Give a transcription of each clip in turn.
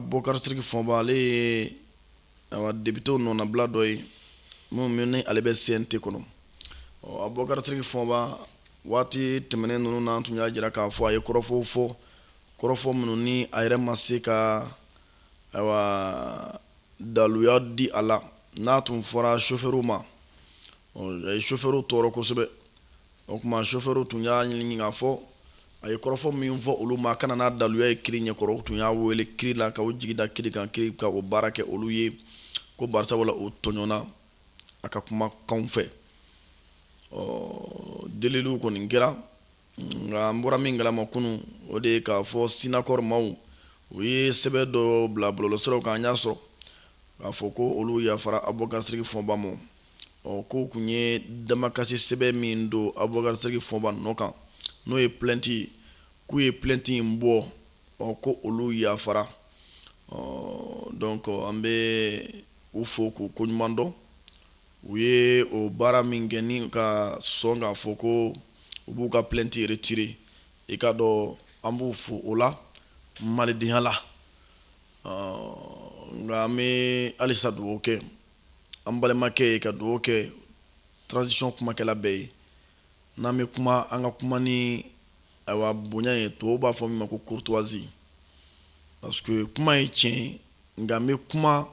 Abubakari Sidiki Fɔnba ale ye depitew nɔnabila dɔ ye minnu ni ale bɛ CNT kɔnɔ ɔ Abubakari Sidiki Fɔnba waati tɛmɛnen ninnu na an tun y'a jira k'a fɔ a ye kɔrɔfɔw fɔ kɔrɔfɔ minnu ni a yɛrɛ ma se ka daluya di a la n'a tun fɔra sofɛw ma sofɛw tɔɔrɔ kosɛbɛ o tuma sofɛw tun y'a ɲini k'a fɔ a ye kɔrɔfɔ min fɔ olu ma ka na n'a daluya ye kiri ɲɛkɔrɔ u tun y'a weele kiri la k'u jigi da kiri kan kiri ka o baara kɛ olu ye ko bari sabula o tɔɲɔna a ka kumakan fɛ ɔ deli kɔni kɛra nka an bɔra min kalama kunun o de ye k'a fɔ SYNACOR maaw u ye sɛbɛn dɔ bila bɔlɔlɔsiraw kan an y'a sɔrɔ k'a fɔ ko olu yafara Abubakari Sidiki Fɔnba ma Ɔ k'u tun ye damakasi sɛbɛn min don Abubakari Sidiki Fɔnba nɔ kan n'o ye plainte ye k'u ye plainte in bɔ ɔ ko olu yafara ɔ donc an bɛ u fo k'u koɲuman dɔn u ye o baara min kɛ ni ka sɔn k'a fɔ ko u b'u ka plainte retirer i ka dɔn an b'u fo o la malidenya la nka an bɛ halisa dugawu kɛ an balimakɛ ye ka dugawu kɛ transition kumakɛla bɛɛ ye n'an bɛ kuma an ka kuma ni ayiwa bonya ye tubabu b'a fɔ min ma ko courtoisie parce que kuma ye tiɲɛ ye nka n bɛ kuma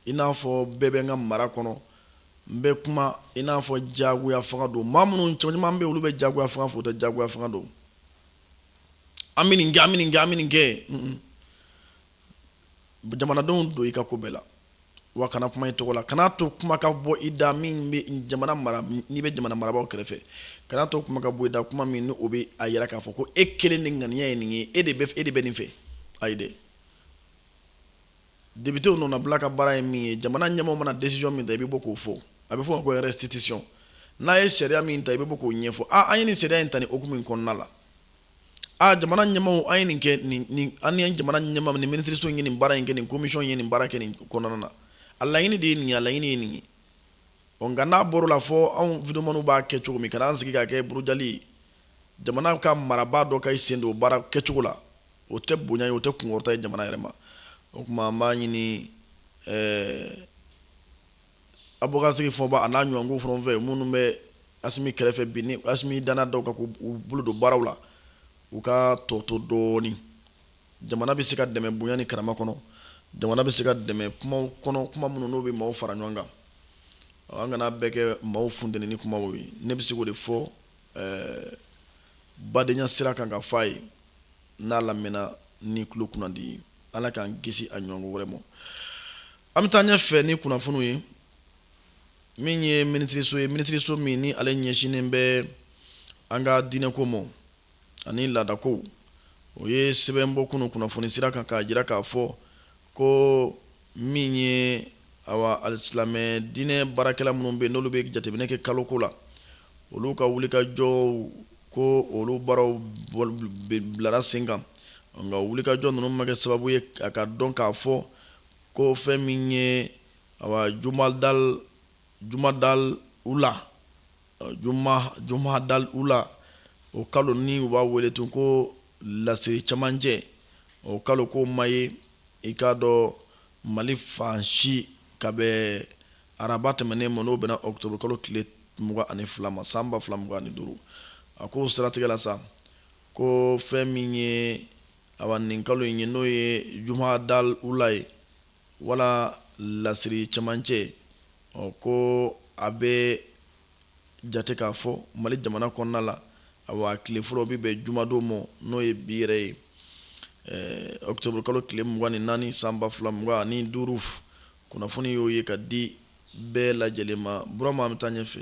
i n'a fɔ bɛɛ bɛ n ka mara kɔnɔ n bɛ kuma i n'a fɔ jagoya fanga don maa minnu cɛ caman bɛ olu bɛ jagoya fanga fɔ u tɛ jagoya fanga dɔn an bɛ nin kɛ an bɛ nin kɛ an bɛ nin kɛ jamanadenw don i ka ko bɛɛ la wa kana kuma i tɔgɔ la kana to kuma ka bɔ i da min n'i bɛ jamana marabagaw kɛrɛfɛ kana to kuma ka bɔ i da kuma min o bɛ a jira k'a fɔ ko e kelen ni ŋaniya ye nin ye e de e de bɛ nin fɛ ayi dɛ depitew nɔnabila ka baara ye min ye jamana ɲɛmɔgɔ mana desizɔn min ta i bɛ bɔ k'o fɔ a bɛ fɔ ko restitution n'a ye sariya min ta i bɛ bɔ k'o ɲɛfɔ an ye nin sariya in ta nin hukumu in kɔnɔna la aa jamana ɲɛmaaw an ye nin kɛ nin nin an ye jamana ɲɛmaa ni minisiriso ye nin baara in kɛ nin komisiyɔn ye nin baara kɛ nin kɔnɔna na a laɲini de ye nin ye a laɲini ye nin ye ɔ nka n'a bɔra o la fɔ anw videyomaniw b'a kɛ cogo min ka n'an sigi k'a kɛ burujali ye jamana ka marabaa dɔ ka i sen don baara kɛcogo la o tɛ bonya ye o tɛ kunkɔrɔta ye jamana yɛrɛ ma o tuma an b'a ɲini ɛɛ Abubakari Sidiki Fɔnba a n'a ɲɔgɔnw fana fɛ minnu bɛ Asimi kɛrɛfɛ bi ni Asimi danna dɔw kan k'u bolo don baaraw la u ka tɔ to dɔɔnin jamana bɛ se ka dɛmɛ bonya ni karama kɔnɔ jamana bɛ se ka dɛmɛ kumaw kɔnɔ kuma minnu n'o bɛ maaw fara ɲɔgɔn kan an kana bɛɛ kɛ maaw funteni kuma ye ne bɛ se k'o de fɔ badenya sira kan ka fɔ a ye n'a lamɛnna ni tulo kunnandi ye ala k'an kisi a ɲɔgɔnko wɛrɛ ma an bɛ taa ɲɛ fɛ ni kunnafoniw ye min ye minisiriso ye minisiriso min ni ale ɲɛsinnen bɛ an ka diinɛko ma ani laadako o ye sɛbɛn bɔ kunun kunnafoni sira kan k'a jira k'a fɔ Ko min ye awa alisilamɛ diinɛ baarakɛla minnu bɛ n'olu bɛ jateminɛ kɛ kaloko la olu ka wulikajɔw ko olu baaraw bilara sen kan nka wulikajɔ ninnu ma kɛ sababu ye a ka dɔn k'a fɔ ko fɛn min ye awa jumadal jumadal ula jumadal ula o kalo ni u b'a wele tun ko lasiri camancɛ o kalo ko ma ye i k'a dɔn mali fan si ka bɛn araba tɛmɛnen ma n'o bɛnna ɔkutɔburu kalo tile mugan ani fila ma san ba fila mugan ni duuru a ko siratigɛ la sa ko fɛn min ye awa nin kalo in ye n'o ye jumadal ula ye wala lasiri camancɛ ɔ ko a bɛ jate k'a fɔ mali jamana kɔnɔna la awa tile fɔlɔ bɛ bɛn jumadon ma n'o ye bi yɛrɛ ye ɔkutɔburu kalo tile mugan ni naani san ba fila mugan ani duuru kunnafoni y'o ye ka di bɛɛ lajɛlen ma burama an bɛ taa ɲɛ fɛ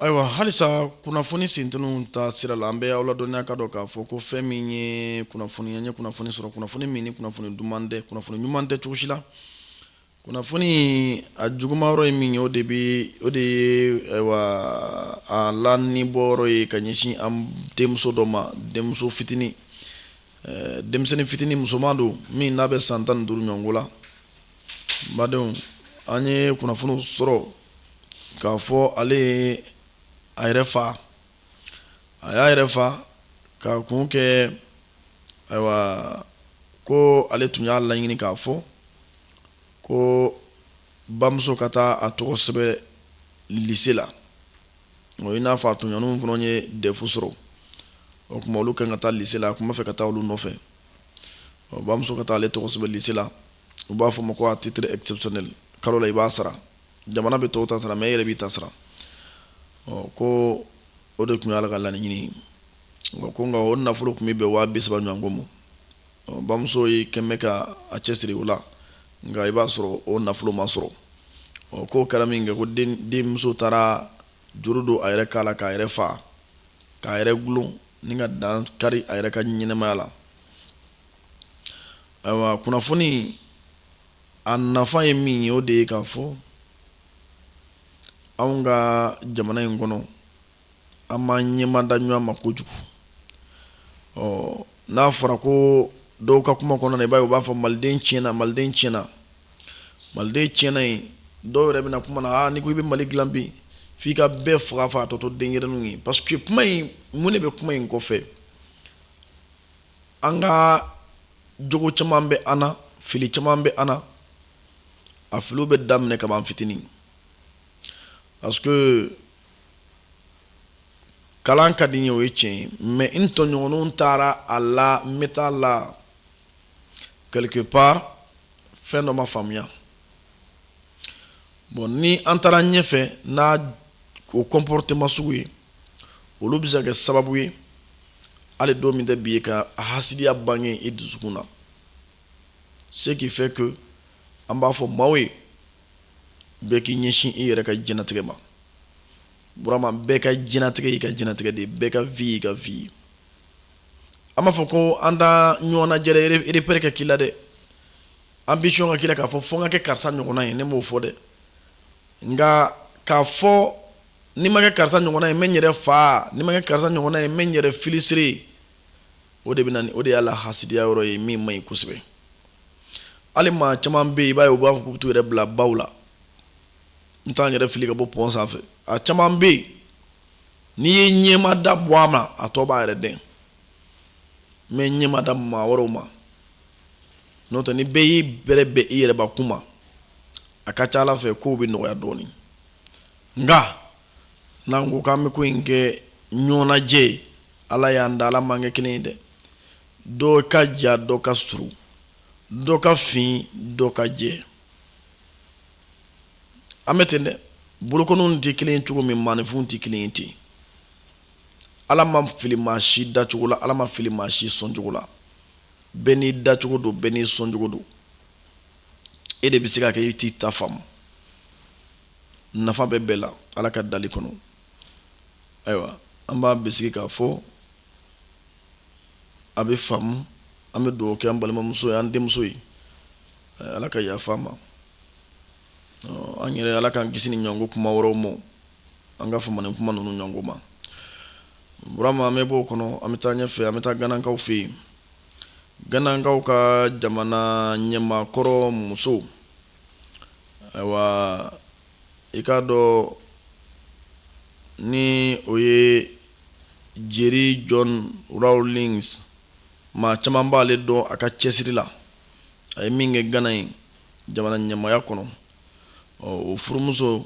Ayiwa halisa kunnafoni sint ta sira la an bɛ aw ladɔnniya ka dɔn k'a fɔ ko fɛn min ye kunnafoni an ye kunnafoni sɔrɔ kunnafoni min kunnafoni duman tɛ kunnafoni ɲuman tɛ cogosi la kunnafoni a juguma yɔrɔ ye min o de bɛ o de ye a la ni bɔ yɔrɔ ye ka ɲɛsin an denmuso dɔ ma denmuso fitinin denmisɛnnin fitinin musoman don min n'a bɛ san tan duuru ɲɔgɔnko la badenw an ye kunnafoni sɔrɔ k'a fɔ ale ye a yɛrɛ fa a y'a yɛrɛ fa k'a kun kɛ ayiwa ko ale tun y'a laɲini k'a fɔ ko bamuso ka taa a tɔgɔ sɛbɛn lise la o i n'a fɔ a tɔɲɔgɔnw fana ye dɛfu sɔrɔ o tuma olu kan ka taa lise la a tun b'a fɛ ka taa olu nɔfɛ bamuso ka taa ale tɔgɔ sɛbɛn lise la u b'a fɔ ma ko à titre exceptionnel kalo la i b'a sara jamana bɛ tɔw ta sara mɛ e yɛrɛ b'i ta sara ɔ ko o de tun ye ale ka laɲini ye nka ko nka o nafolo tun bɛ bɛn waa bisaba ɲɔgɔnko ma ɔ bamuso ye quand même ka a cɛsiri o la nka i b'a sɔrɔ o nafolo ma sɔrɔ ɔ k'o kɛra min kɛ ko denmuso taara juru don a yɛrɛ kan la k'a yɛrɛ faa k'a yɛrɛ gulon ni ka dan kari a yɛrɛ ka ɲɛnɛmaya la ayiwa kunnafoni a nafa ye min ye o de ye k'a fɔ anw ka jamana in kɔnɔ an b'an ɲɛmada ɲɔgɔn ma kojugu ɔ n'a fɔra ko dɔw ka kuma kɔnɔna i b'a ye u b'a fɔ maliden tiɲɛna maliden tiɲɛna maliden tiɲɛna ye dɔw yɛrɛ bɛna kuma na n'i ko i bɛ mali dilan bi f'i ka bɛɛ faga k'a tɔ to denyɛrɛninw ye parce que kuma in mun de bɛ kuma in kɔfɛ an ka jogo caman bɛ an na fili caman bɛ an na a filiw bɛ daminɛ kabini fitinin parce que kalan ka di n ye o ye tiɲɛ ye mais n tɔɲɔgɔn taara a la n bɛ taa la quelque part fɛn dɔ ma faamuya bon ni an taara ɲɛfɛ n'a o comportement masugu ye olu bɛ se ka kɛ sababu ye hali don min tɛ bi ye ka hasidiya bange i dusukun na ce qui fait que an b'a fɔ maaw ye bɛɛ k'i ɲɛsin i yɛrɛ ka diɲɛlatigɛ ma burama bɛɛ ka diɲɛlatigɛ y'i ka diɲɛlatigɛ de ye bɛɛ ka vie y'i ka vie ye an m'a fɔ ko an t'a ɲɔgɔn lajɛ repère kɛ k'i la dɛ ambition ka k'i la k'a fɔ fo n ka kɛ karisa ɲɔgɔnna ye ne m'o fɔ dɛ nka k'a fɔ ni n ma kɛ karisa ɲɔgɔnna ye n bɛ n yɛrɛ faa ni n ma kɛ karisa ɲɔgɔnna ye n bɛ n yɛrɛ filisiri o de bɛ o de y'a la hasidiya yɔrɔ ye min man ɲi kosɛbɛ hali maa caman bɛ yen i b'a ye u b'a fɔ k'u bɛ t'u yɛrɛ bila baw la n taa n yɛrɛ fili ka bɔ pɔn sanfɛ a caman bɛ yen n'i ye ɲɛmada bɔ a ma a tɔ b'a yɛrɛ dɛ mais ɲɛmada maa wɛrɛw ma n'o tɛ ni bɛɛ y'i bɛrɛ bɛn i yɛrɛ bakun ma a ka ca ala fɛ kow bɛ nɔgɔya dɔɔnin nka n'an ko k'an bɛ ko in kɛ ɲɔgɔn lajɛ ye ala y'an da ala m'an kɛ kelen ye dɛ dɔ ka jan dɔ ka surun dɔ ka fin dɔ ka jɛ an bɛ ten dɛ bolokɔniw tɛ kelen ye cogo min maaninfinw tɛ kelen ye ten ala ma fili maa si dacogo la ala ma fili maa si sɔncogo la bɛɛ n'i dacogo don bɛɛ n'i sɔncogo don e de bɛ se ka kɛ i t'i ta faamu nafa bɛ bɛɛ la ala ka dali kɔnɔ ayiwa an b'a bisigi k'a fɔ a bɛ faamu an bɛ dugawu kɛ an balimamuso ye an denmuso ye ala ka yafa a ma an yɛrɛ ala k'an kisi nin ɲɔgɔn kuma wɛrɛ ma an ka fama nin kuma ninnu ɲɔgɔn ma burama an bɛ bɔ o kɔnɔ an bɛ taa ɲɛfɛ an bɛ taa ganakaw fɛ yen ganakaw ka jamana ɲɛmaakɔrɔ muso ayiwa i k'a dɔn ni o ye jerry john rawlings maa caman b'ale dɔn a ka cɛsiri la a ye min kɛ gana yen jamana ɲɛmaaya kɔnɔ o furumuso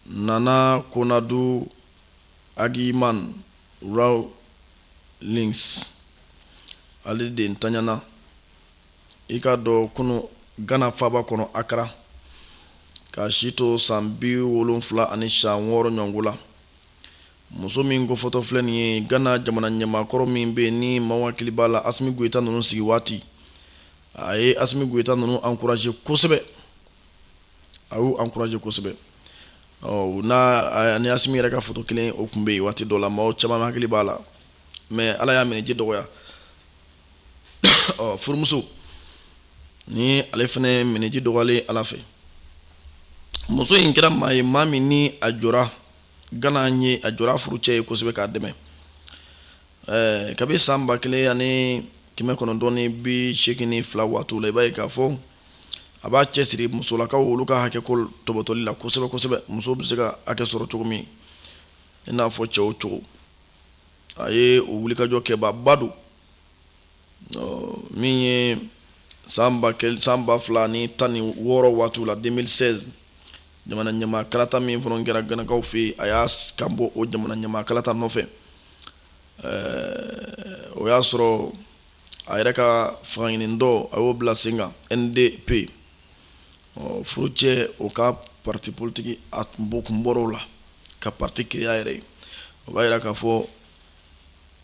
nana konadu agyeman rawlings ale de ntanyana i k'a dɔn kunun gana faaba kɔnɔ accra k'a si to san bi wolonfila ani san wɔɔrɔ ɲɔgɔn la Muso min ko fɔtɔ filɛ nin ye gana jamana ɲɛmaakɔrɔ min bɛ yen ni maaw hakili b'a la asimi goyita ninnu sigi waati a ye asimi goyita ninnu encouragé kosɛbɛ a y'u encouragé kosɛbɛ ɔ n'a ni asimi yɛrɛ ka fɔtɔ kelen o kun bɛ yen waati dɔ la maaw caman hakili b'a la mais ala y'a minniji dɔgɔya ɔ furumuso nin ale fana minniji dɔgɔyalen ala fɛ muso in kɛra maa ye maa min ni a jɔ gana ye a jɔr'a furucɛ ye kosɛbɛ k'a dɛmɛ ɛɛ kabi san ba kelen ani kɛmɛ kɔnɔntɔn bi segin ni fila waatiw la i b'a ye k'a fɔ a b'a cɛsiri musolakaw olu ka hakɛko tɔbɔtɔli la kosɛbɛ kosɛbɛ muso bɛ se ka hakɛ sɔrɔ cogo min i n'a fɔ cɛw cogo a ye o wulikajɔ kɛbaaba don min ye san san ba fila ni tan ni wɔɔrɔ waatiw la deux mille seize jamana ɲɛmaa kalata min fana kɛra ganakaw fɛ yen a y'a kan bɔ o jamana ɲɛmaa kalata nɔfɛ o y'a sɔrɔ a yɛrɛ ka fangaɲinitɔn a y'o bila sen kan NDP ɔ furucɛ o ka pati politigi a bɔ kun bɔr'o la ka pati créer a yɛrɛ o b'a yira k'a fɔ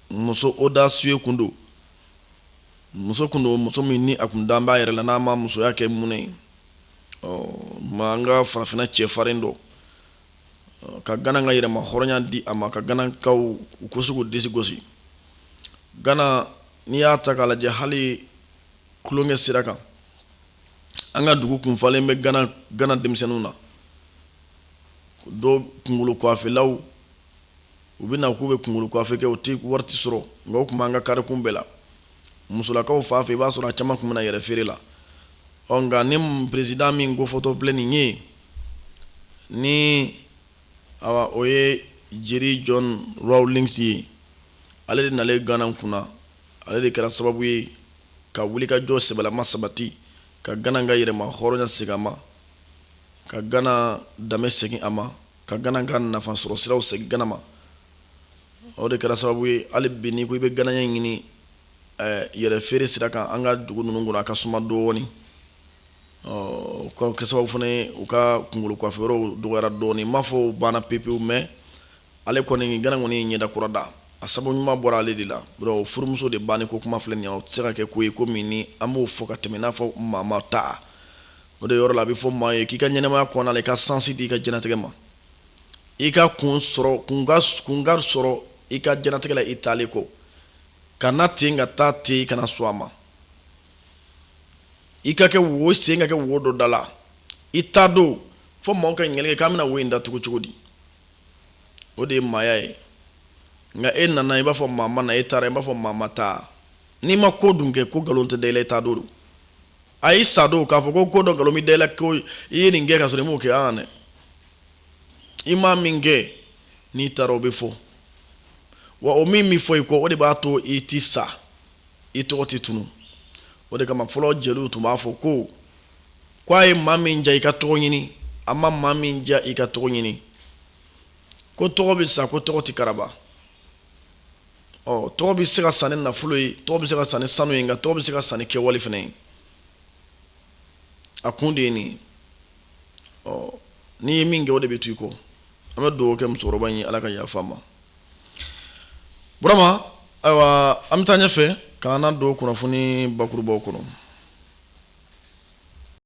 muso audacieux kun don muso kun don muso min ni a kun dan b'a yɛrɛ la n'a ma musoya kɛ mɔnɛ ye a ma an ka farafinna cɛfarin dɔ ka gana ka yɛrɛmahɔrɔnya di a ma ka ganakaw u ka se k'u disi gosi gana n'i y'a ta k'a lajɛ hali tulonkɛ sira kan an ka dugu kun falen bɛ gana denmisɛnninw na dɔw kunkolofilaw u bɛ na k'u bɛ kunkolo kuwafe kɛ u tɛ wari tɛ sɔrɔ nka tun b'an ka karikun bɛɛ la musolakaw fan fɛ i b'a sɔrɔ a caman tun bɛ yɛrɛ feere la ɔ nka ni perezidan min ko fɔtɔ filɛ nin ye ni o ye jerry john rawlings ye ale de nalen gana kunna ale de kɛra sababu ye ka wuli ka jɔ sɛbɛlama sabati ka gana ka yɛrɛmahɔrɔnya segin a ma ka gana danbe segin a ma ka gana ka nafa sɔrɔ siraw segin gana ma o de kɛra sababu ye hali bi n'i ko i bɛ ganaya ɲini ɛɛ yɛrɛ feere sira kan an ka dugu ninnu kɔnɔ a ka suma dɔɔni ɔ ka kɛ sababu fana ye u ka kunkolo kuwafe yɔrɔw dɔgɔyara dɔɔni n m'a fɔ u banna pepewu mais ale kɔni gana kɔni ye ɲɛda kura da a sababu ɲuman bɔra ale de la o furumuso de banni ko kuma filɛ nin ye o tɛ se ka kɛ ko ye ko min ni an b'o fɔ ka tɛmɛ i n'a fɔ maa ma taa o de yɔrɔ la a bɛ fɔ maa ye k'i ka ɲɛnɛmaya kɔnɔ i ka sansi di i ka diɲɛlatigɛ ma i ka kun sɔrɔ kun ka sɔrɔ i ka diɲɛlatigɛ la i taalen kɔ ka na ten ka taa ten i kana sɔn a ma i ka kɛ wo sen ka kɛ wo dɔ da la i taa don fo maaw ka ɲininkali kɛ k'an bɛna wo in da tugu cogo di o de ye maaya ye nka e nana i b'a fɔ maa ma na e taara i b'a fɔ maa ma taa n'i ma ko dun kɛ ko nkalon tɛ da i la i taa don a y'i sa don k'a fɔ ko ko dɔ nkalon bɛ da i la ko i ye nin kɛ ka sɔrɔ i m'o kɛ an dɛ i maa min kɛ n'i taara o bɛ fɔ wa o min bɛ fɔ i kɔ o de b'a to i ti sa i tɔgɔ tɛ tunu o de kama fɔlɔ jeliw tun b'a fɔ ko ko a ye maa min ja i ka tɔgɔ ɲini a ma maa min ja i ka tɔgɔ ɲini ko tɔgɔ bɛ san ko tɔgɔ tɛ karaba ɔ tɔgɔ bɛ se ka san ni nafolo ye tɔgɔ bɛ se ka san ni sanu ye nka tɔgɔ bɛ se ka san ni kɛwale fana ye a kun de ye nin ɔ n'i ye min kɛ o de bɛ to i kɔ an bɛ dugawu kɛ musokɔrɔba in ye ala ka yafa a ma burama ayiwa an bɛ taa ɲɛfɛ ka na don kunnafoni bakurubaw kɔnɔ